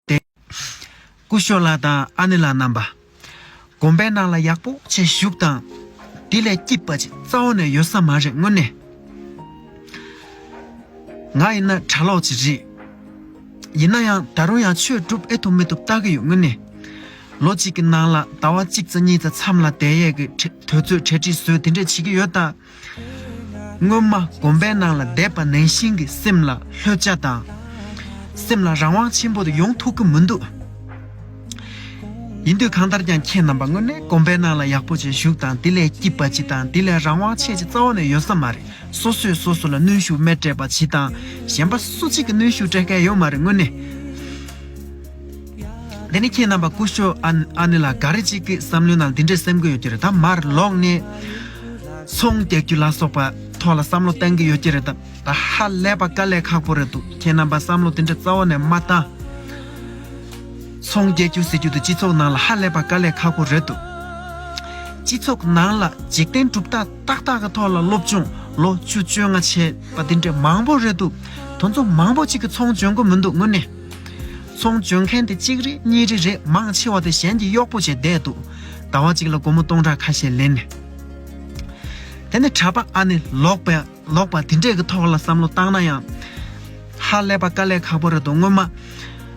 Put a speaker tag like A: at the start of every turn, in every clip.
A: བསྟན། སྐུ་ཞོ་ལ་དང་ཨ་ནེ་ལ་རྣམ་པ། དགོན་པའི་ནང་ལ་ཡག་པོ་ཆེ་བཞུགས་དང། དེ་ལས་སྐྱིད་པ་ཅིག་རྩ་བ་ནས་ཡོད་ས་མ་རེད་དངོས་གནས། ང་ཡིན་ན་གྲྭ་ལོག་ཅིག་རེད། ཡིན་ན་ཡང་ད་རུང་ཡང་ཆོས་སྒྲུབ་ཨེ་ཐུབ་མི་ཐུབ་བལྟ་གི་ཡོད་དངོས་གནས། ལོ་གཅིག་གི་ནང་ལ་ཟླ་བ་གཅིག་རྩ་གཉིས་རྩ་མཚམས་ལ་དད་ཡས་ཀྱི་དོལ་ཚོས་གྲལ་སྒྲིག་བཟོས་དེ་འདྲས་བྱེད་ཀྱི་ཡོད་ད། སྔོན་མ་གོམ་པའི་ནང་ལ་བསྡད་པ་ནང་བཞིན་གྱི་སེམས་ལ་ལྷོད་ཆ་དང། སེམས་ལ་རང་དབང་ཆེན་པོ་དེ་ཡོང་ཐུབ་ཀྱི་མི་འདུག་ཡིན་དུས་གང་ལྟར་ཀྱང་ཁྱེད་རྣམ་པ་དངོས་གནས་གོམ་པའི་ནང་ལ་ཡག་པོ་ཅིག་ཞུགས་དང་དེ་ལས་སྐྱིད་པ་ཅིག་དང་དེ་ལས་རང་དབང་ཆེ་ཆེ་རྩ་བ་ནས་ཡོད་ས་མ་རེད་སོ་སོས་སོ་སོ་ལ་གནོན་ཤུགས་མེད་སྤྲད་པ་བྱེད་དང་གཞན་པ་སུ་གཅིག་གི་གནོན་ཤུགས་སྤྲད་མཁན་ཡོད་མ་རེད་དངོས་གནས། འདི་ནི་ཁྱེད་རྣམ་པ་སྐུ་ཞོ་ཨ་ནི་ལ་འགའ་རེ་གཅིག་གི་བསམ་བློའི་ནང་འདི་འདྲའི་སེམས་ཁུར་ཡོད་ཀྱི་རེད་དམ་མར་ལོག་ནས་ཚོང་བལྟ་རྒྱུ་ལ་སོགས་པ་ཐོག་ལ་བསམ་བློ་གཏང་གི་ཡོད་ཀྱི་རེད་དམ་ད་ཧ་ལས་པ་དཀའ་ལས་ཁག་པོ་རེད་འདུག་ཁྱེད་རྣམ་པ་བསམ་བློ་འདི་འདྲ་རྩ་བ་ནས་མ་བཏང། ཚོང་བསྐྱལ་རྒྱུ་ཟེར་རྒྱུ་དེ་སྤྱི་ཚོགས་ནང་ལ་ཧ་ལས་པ་དཀའ་ལས་ཁག་པོ་རེད་འདུག་སྤྱི་ཚོགས་ནང་ལ་འཇིག་རྟེན་གྲུབ་རྟགས་ཏག་ཏག་གི་ཐོག་ལ་སློབ་སྦྱོང་ལོ་བཅུ་བཅོ་ལྔ་བྱས་པ་འདི་འདྲའི་མང་པོ་རེད་འདུག་དོན་ཚོ་མང་པོ་གཅིག་གི་ཚོང་འཇོན་གོ་མི་འདུག་དངོས་གནས། ཚོང་འཇོན་མཁན་དེ་གཅིག་རེད་གཉིས་རེ་རེད་མང་ཆེ་བ་དེ་གཞན་གྱི་གཡོག་པོ་བྱས་བསྡད་འདུག་ཟླ་བ་གཅིག་ལ་སྒོར་མོ་སྟོང་ཕྲག་ཁ་ཤས་ལེན་ནས། དེ་ནི་གྲྭ་པ་ཨ་ནེ་ལོག་པའི་ལོག་པ་དེ་འདྲས་ཀྱི་ཐོག་ལ་བསམ་བློ་བཏང་ན་ཡང། ཧ་ལས་པ་དཀའ་ལས་ཁག་པོ་རེད་འདུག་སྔོན་མ།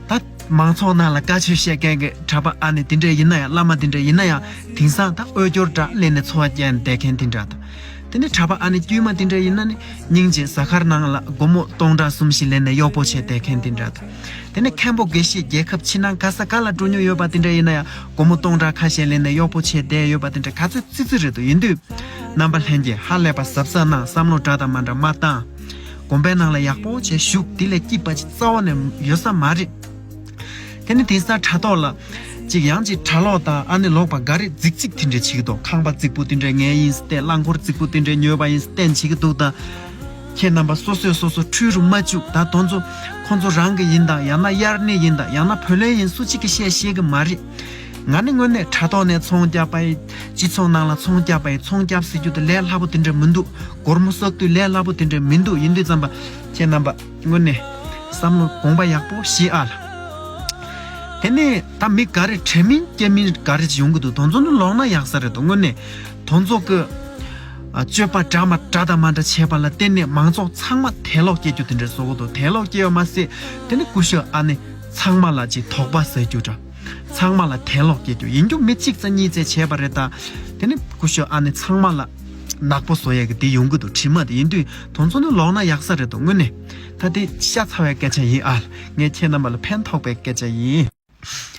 A: ད་མང་ཚོགས་ནང་ལ་བཀའ་ཆོས་བཤད་མཁན་གྱི་གྲྭ་པ་ཨ་ནེ་དེ་འདྲས་ཡིན་ན་ཡང་བླ་མ་དེ་འདྲས་ཡིན་ན་ཡང་དེང་སང་ད་འོས་སྦྱོར་འདྲ་ལེན་ནས་འཚོ་བ་སྐྱལ་ནས་བསྡད་མཁན་དེ་འདྲ་དང། དེ་ནས་གྲྭ་པ་ཨ་ནེ་དཀྱུས་མ་དེ་འདྲ་ཡིན་ན་ནི་སྙིང་རྗེ་གཟའ་སྐར་ནང་ལ་སྒོར་མོ་སྟོང་ཕྲག་གསུམ་བཞི་ལེན་ནས་གཡོག་པོ་བྱེད་བསྡད་མཁན་དེ་འདྲ་དང། དེ་ནས་མཁན་པོ་དགེ་བཤེས་རྒྱལ་ཁབ་ཕྱི་ནང་ག་ས་ག་ལ་འགྲོ་མྱོང་ཡོད་པ་དེ་འདྲ་ཡིན་ན་ཡང་སྒོར་མོ་སྟོང་ཕྲག་ཁ་ཤས་ལེན་ནས་གཡོག་པོ་བྱེད་བསྡད་ཡོད་པ་དེ་འདྲ་ག་ཚོད་ཙི་ཙི་རེད་དོ་ཡིན་དུས། རྣམ་པ་ལྷན་རྒྱས་ཧ་ལས་པ་གཟབ་གཟབ་གནང་བསམ་བློ་འདྲ་དང་མ་འདྲ་མ་བཏང། དགོན་པའི་ནང་ལ་ཡག་པོ་བྱས་བཞུགས་དེ་ལས་སྐྱིད་པ་ཅིག་རྩ་བ་ནས་ཡོད་ས་མ་རེད། དེ་ནི་དེ་སར་དྲ་ཐོག་ལ། ཅིག་ཡང་ཅིག་དྲ་ལོག་དང་ཨ་ནི་ལོག་པ་འགའ་རེས་རྫིག་རྫིག་དེ་འདྲའི་བྱེད་ཀྱི་འདུག་ཁང་པ་རྫིག་པོ་དེ་འདྲའི་ངའི་ཡིན་སྟེ་རླངས་འཁོར་རྫིག་པོ་དེ་འདྲའི་ཉོས་པ་ཡིན་སྟེ་བྱེད་ཀྱི་འདུག་ད། ཁྱེད་རྣམ་པ་སོ་སོས་སོ་སོ་འཁྲུལ་རུ་མ་བཅུག་ད་དོན་ཚོ། ཁོ་ཚོ་རང་གི་ཡིན་དང་ཡང་ན་དབྱར་གནས་ཡིན་དང་ཡང་ན་བུ་ལོན་ཡིན་སུ་གཅིག་གིས་བཤད་ཤེས་ཀྱི་མ་རེད། ང་ནི་དངོས་གནས་དྲ་ཐོག་ནས་ཚོང་བསྐྱབས་པ་ཡི། སྤྱི་ཚོགས་ནང་ལ་ཚོང་བསྐྱབས་པ་ཡི་ཚོང་བསྐྱབས་ཟེར་རྒྱུ་དེ་ལས་སླ་པོ་དེ་འདྲ་མི་འདུག་སྒོར་མོ་གསོག་དུས་ལས་སླ་པོ་དེ་འདྲ་མི་འདུག་ཡིན་དུས་ཙམ་པ། ཁྱེད་རྣམ་པ། སྔོན་ནས་བསམ་བློ་དགོངས་པ་ཡག་པོ་ཞིག་ཨ་ལ། དེ་ནས་ད་མི་འགའ་རེ་དྲན་མིན་སྐྱེ་མིན་འགའ་རེ་ཡོང་གི་འདུག་དོན་ཚོགས་འདི་ལོག་ན་ཡག་ས་རེད་དོ་དངོས་གནས་དོན་ཚོགས་ཀྱི་སྤྱོད་པ་འདྲ་མ་འདྲ་དང་མ་འདྲ་བྱས་པ་ལ་བརྟེན་ནས་མང་ཚོགས་ཚང་མ་དད་ལོག་སྐྱེ་རྒྱུ་དེ་འདྲའི་བཟོ་གོ་འདུག་དད་ལོག་སྐྱེ་བ་མ་ཟད་དེ་ནི་ཀུ་ཤུ་ཨ་ནི་ཚང་མ་ལ་ཅིག་དོགས་པ་ཟ་རྒྱུ་འདྲ། ཚང་མ་ལ་དད་ལོག་སྐྱེས་དུས་ཡིན་རྒྱུ་མི་གཅིག་རྩ་གཉིས་རྩེ་བྱས་པ་རེད་ད། དེ་ནི་ཀུ་ཤོ་ཨ་ནི་ཚང་མ་ལ། ནག་པོ་བཟོ་ཡག་གི་དེ་ཡོང་གི་འདུག་དྲི་མ་དེ་ཡིན་དུས་དོན་ཚོ་ནི་ལོག་ན་ཡག་ས་རེད་འདུག་དངོས་གནས། ད་དེ་ཤ་ཚ་བའི་སྐད་ཆ་ཡིན་ཨཱལ་ངས་ཁྱེད་རྣམ་པ་ལ་ཕན་ཐོགས་པའི་སྐད་ཆ་ཡིན།